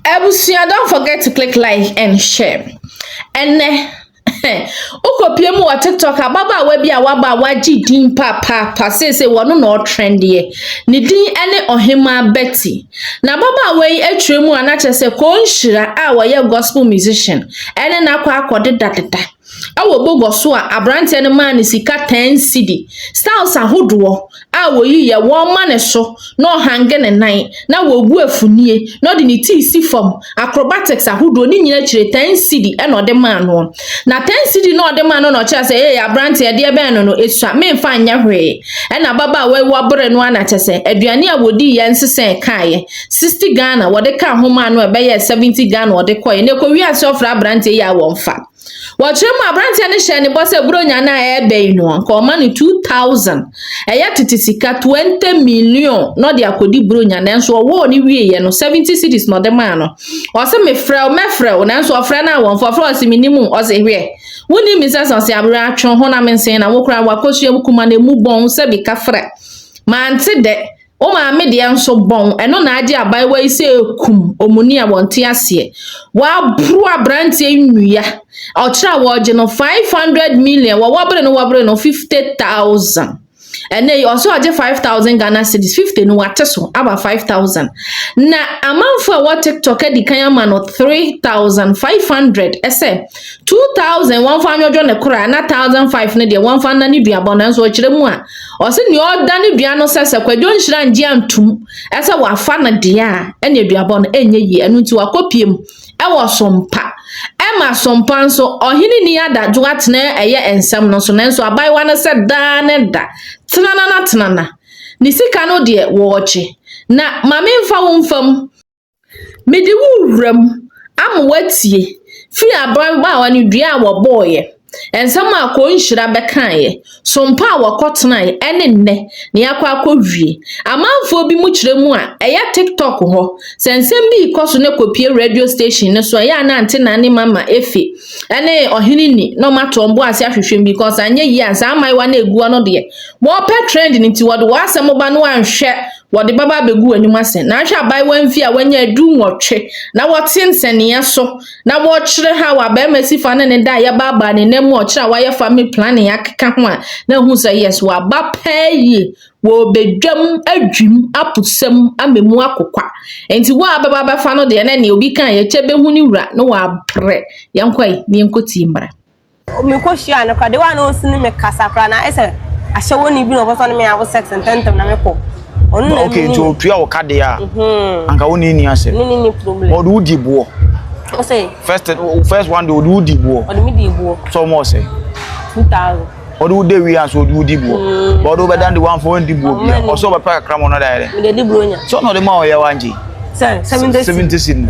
Abusua don't forget to click like and share. Ɛnɛ wokɔpie mu wɔ tiktok ababaawa bi a waba a wagye din papaapa seesei wɔno na ɔtrɛndeɛ ne din ne ɔhemaa bɛti na ababaawa yi atwerɛ mu a na kyerɛ sɛ kɔnhyira a wɔyɛ gospel musician ɛne no akɔ akɔdedadeda Wɔ bɔgɔ so a abranteɛ no maa no sika ten cedi, styles ahodoɔ a wɔyi yɛ wɔn ma no so na ɔhange ne nan na wɔgu afunie na ɔde ne ti si fam, acrobatics ahodoɔ ne nyina akyire ten cedi na ɔde maa noɔ. Na ten cedi no a ɔde maa no na ɔkyerɛ sɛ ee abranteɛ deɛ bɛn no no ɛsua menfa nyɛ hwee ɛna ababaawa yi wabere no ara na kyɛ sɛ aduane a wɔdii yɛ nsesɛɛ kaeɛ. 60 Ghana wɔde kaa ho maa no a ɛbɛyɛɛ 70 Ghana ɔde kɔe na ɛkɔwia ase ɔfrɛ aberanteɛ yi a wɔmfa. Wɔkyerɛ mu aberanteɛ no hyɛɛ ne bɔ sɛ Buronya no a ɛreba yi no anka ɔma no 2000 ɛyɛ tete sika 20 million na ɔde akɔdi Buronya nanso ɔwɔɔ ne wieeɛ no 70 cities na ɔde maa no. Ɔse mefrɛ wo mɛfrɛ wo nanso ɔfrɛ no a wɔmfa ɔfrɛ ɔse menim wo ɔse hwɛ wonim me sɛ sase aberɛ atwe honam nsen na wo koraa wakɔsua wo kuma na ɛmu bɔn sɛ bi kafra mante dɛ Wo maame deɛ nso bɔn, ɛno na agye abaayewa yi sɛ ɛkum omuni a wɔnte aseɛ. Waboro aberanteɛ yi nnua. Ɔkyerɛ a wɔregye no 500 million, wɔwɔ bere no wɔbere no 50,000. Ɛnɛ yi ɔsɛ ɔgye 5,000 Ghana cedis, 50 no wate so aba 5,000. Na amanfo a ɛwɔ TikTok adi kan ama no 3,500 ɛsɛ 2,000 wɔmfa nwɔdwo ne kora na 1,005 no deɛ wɔmfa nna ne duabɔ nanso ɔkyerɛ mu a Ɔse nea ɔda no dua no sɛ sɛ Kwadwo Nhyira ngye antum sɛ wafa no deɛ a ɛne aduabɔ no ɛnyɛ yie ɛno nti wakɔpiem ɛwɔ Sompa ɛma Sompa nso ɔhene ni adadwo atena ɛyɛ nsɛm no so nanso abaayewa no sɛ daa ne da tenana na tenana ne sika no deɛ wɔɔgye na mame mfa wo mfa mu Mede wo wura mu ama woatie firi ababaawa no dua a wɔbɔeɛ, nsɛm a akɔnhyira bɛkaeɛ, sompa a wɔkɔtenaeɛ ɛne nnɛ na yɛakɔ akɔwie. Amanfoɔ bi mu kyerɛ mu a ɛyɛ TikTok hɔ, sɛ nsɛm bi rekɔ so na ɛkɔpie radio station no so a, ɛyɛ a na ante nane mama efe ɛne ɔhene ni na ɔmato wɔn bo ase ahwehwɛ mu because anyɛ yie a saa mmaayewa no ɛgu hɔ no deɛ wɔpɛ trend no nti wɔde wɔn asɛm ba no anhwɛ wɔde bɛba abɛgu w'anim ase. Na ahwɛ abaayewa mfie a wanya adu nwɔtwe na wɔte nsɛnneɛ so na wɔkyerɛ ha wɔ abarima si fa ne ne da a yɛbaabaa ne nan mu a ɔkyerɛ a wayɛ family planning akeka ho a na ɛhu sɛ yes waba paa yie wɔbɛdwam adwim apusam ama mu akokwa nti wo a bɛba bɛfa no deɛ na neɛ obi ka yɛkyɛ bɛhu ne wura na wɔabrɛ yɛnkɔ yi ne yɛnkɔtie mmara Mekɔ hyiaa no koraa de wa na osi ne me kasa koraa na ayɛ sɛ ahyɛwɔni bi na ɔbɛfa ne me awo sex ntɛntɛm na mekɔ ɔno na okay nti otua wo ka deɛ a mhm. anka wo ne ni asɛm ne ne ne problem ɔde wo di boɔ ɔsɛ first first one deɛ ɔde wo di boɔ ɔde me di boɔ sɛ ɔmo ɔsɛ two thousand ɔde wo de wia so ɔde wo di boɔ mm. ɔde wo bɛdan de wanfa wɔn di boɔ bia ɔsɛ ɔbɛpɛ kakra ma ɔno da yɛ dɛ mede di boɔ nya sɛ ɔna ɔde ma ɔyɛ wa ngye sɛ seventy seventy si no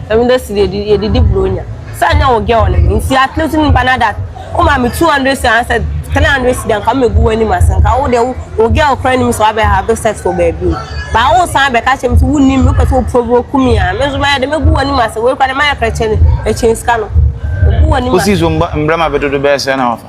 seventy si no yɛde di boɔ nya Sɛ anyɛ wo girl no me nti at least nipa na that wo ma me two hundred cedi anaa sɛ three hundred cedi a nka me gu w'anim ase nka wo deɛ wo girl koraa nim sɛ wabɛ have sex wɔ baabi o but wo san bɛ ka kyerɛ me sɛ wo nim me wopɛ sɛ wo provoke me a me nso mɛyɛ dɛ mɛgu w'anim ase wei koraa de mayɛ koraa kyɛn kyɛn sika no mɛgu w'anim ase. Wosi so mbrɛ ma bɛ dodo bɛyɛ sɛ na wafa.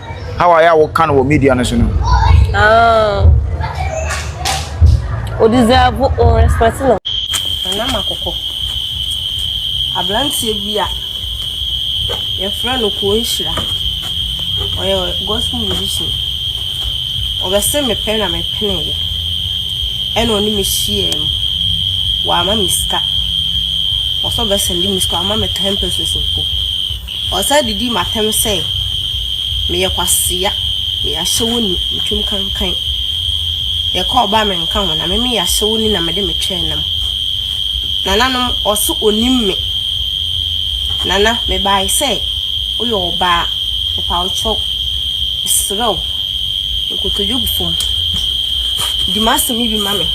how a yɛ a woka no wɔ media no so no. Ah. O deserve o respect no. Nana Makoko. Abranteɛ bi a yɛfrɛ no Kuo Nhyira. Ɔyɛ gospel musician. Ɔbɛse mepɛ na mepeneeɛ. Ɛna ɔne me hyiaa mu. Wama me sika. Ɔsɛ ɔbɛsɛnde me sika. Wama me 10 pesos mpo. Ɔsan de di m'atɛm sɛ, Meyɛ kwasea, meyɛ ahyɛwo ni, metwam kankan. Yɛka ɔba a menka ho, na me meyɛ ahyɛwo ni na mede me twɛn nam. Nananom, ɔso onim me. Nana, mebae sɛ woyɛ ɔbaa, mepa wo kyɛw, mesrɛ wo, nkotodwe gu fam, di m'asɛm yi bi ma me.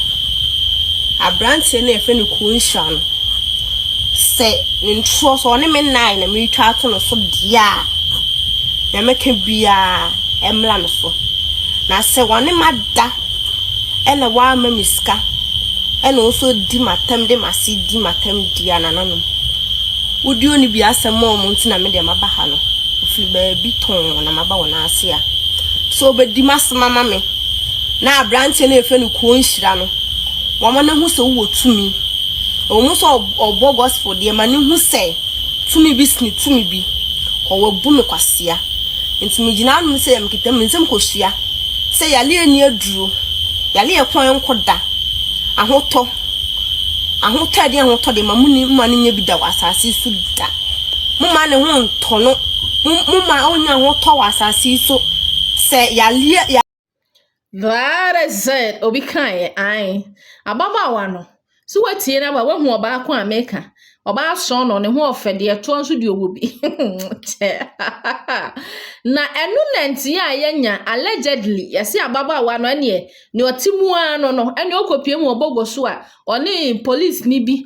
Aberanteɛ no a yɛfrɛ no Kuo Nhyira no. sɛ ne ntorɔ sɛ ɔne me nnaeɛ na meretwa ato no so deɛ a deɛ mɛka biara ɛmmra no so na sɛ ɔne ma da ɛna wama me sika ɛna ɔso di matam de mase di matam di anananom wodi ɔne bi asɛm a ɔmo nti na me deɛ maba ha no ofiri baabi tɔn na maba wɔn ase a so ɔbɛdi masɛm ama me na aberanteɛ no ɛfɛ no kuo nhyira no wɔn ne ho sɛ wowɔ tumi Ɛwɔ mu sɛ ɔbɔ gospel deɛ ma no hu sɛ tumi bi sene tumi bi hɔ wabu no kwasea nti megyina anom sɛ mekita me nsam kɔsua sɛ yale ani aduro yale ɛko a ɛnkɔ da ahotɔ ahotɔ ɛde ahotɔ de ma muni ma no nyɛ bi da wɔ asase so da moma ne ho ntɔ no moma ɔnya ahotɔ wɔ asase so sɛ yale That is it, obi kaeɛ, ae. Ababaawa no, so watie no aba, wahu ɔbaa ko a meka. Ɔbaa sɔn no, ne ho ɔfɛ, deɛ ɛtoɔ nso deɛ ɔwɔ bi. Na ɛno na nti a yɛnya allegedly, yɛse ababaawa no ɛneɛ, ne ɔte mu ara no no, ɛneɛ ɔkɔpie mu ɔbɔgɔ so a, ɔne polisini bi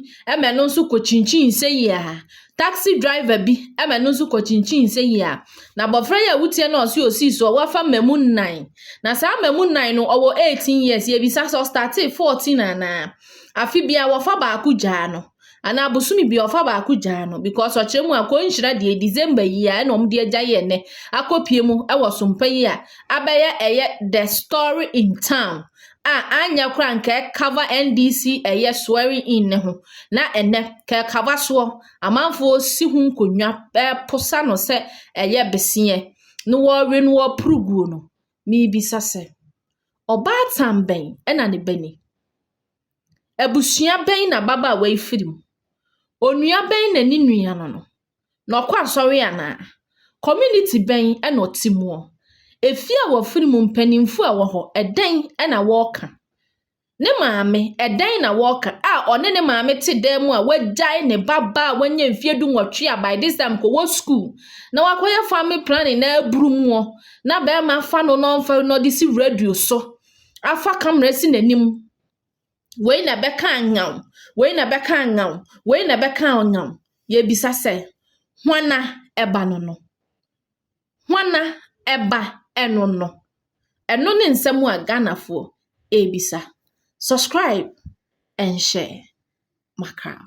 ma ɛno nso kɔkyinkyin seyi a, taxi driver bi ma ɛno nso kɔkyinkyin seyi a, na abɔfra yi a wotia no a ɔse osii soɔ wafa mmamu nnan, na saa mmamu nnan no ɔwɔ 18 years, yɛbisa sɛ ɔstartee 14 anaa? Afe biara wɔfa baako gyaa no anaa bosome biara ɔfa baako gyaa no because ɔkyerɛ mu a kɔnhyira deɛ December yi a ɛna wɔn de agya yɛ nnɛ akɔpie mu wɔ sompa yi a abɛyɛ ɛyɛ the story in town. a anyɛ koraa a nka ɛkava NDC ɛyɛ swearing in no ho na ɛnɛ nka ɛkava soɔ. Amanfoɔ si ho nkonnwa ɛreposa no sɛ ɛyɛ beseɛ na wɔrewe no wɔ puruguo no. Mebisa sɛ, ɔbaatan bɛn na ne ba ni? Abusua bɛn na ababaawa yi firi mu? Onua bɛn na ne nua no no? na ɔkɔ asɔre anaa? Community bɛn na ɔte mu? Efie a wafiri mu mpanyinfo a ɛwɔ hɔ ɛdɛn na wɔka? Ne maame ɛdɛn na wɔka a ɔne ne maame te dan mu a wagyae ne ba ba a wanya mfie du nwɔtwe a by this time kɔwɔ school na wakɔyɛ family planning na aburu mu na bɛrima afa no na ɔmfa na ɔde si radio so afa camera si n'anim Wei na ɛbɛka nyaw, wei na ɛbɛka nyaw, wei na ɛbɛka nyaw. Yɛbisa sɛ, hwana ɛba no no? Hwana ɛba ɛno no? Ɛno ne nsɛm a Ghanafoɔ ɛrebisa. Subscribe and share. Makram.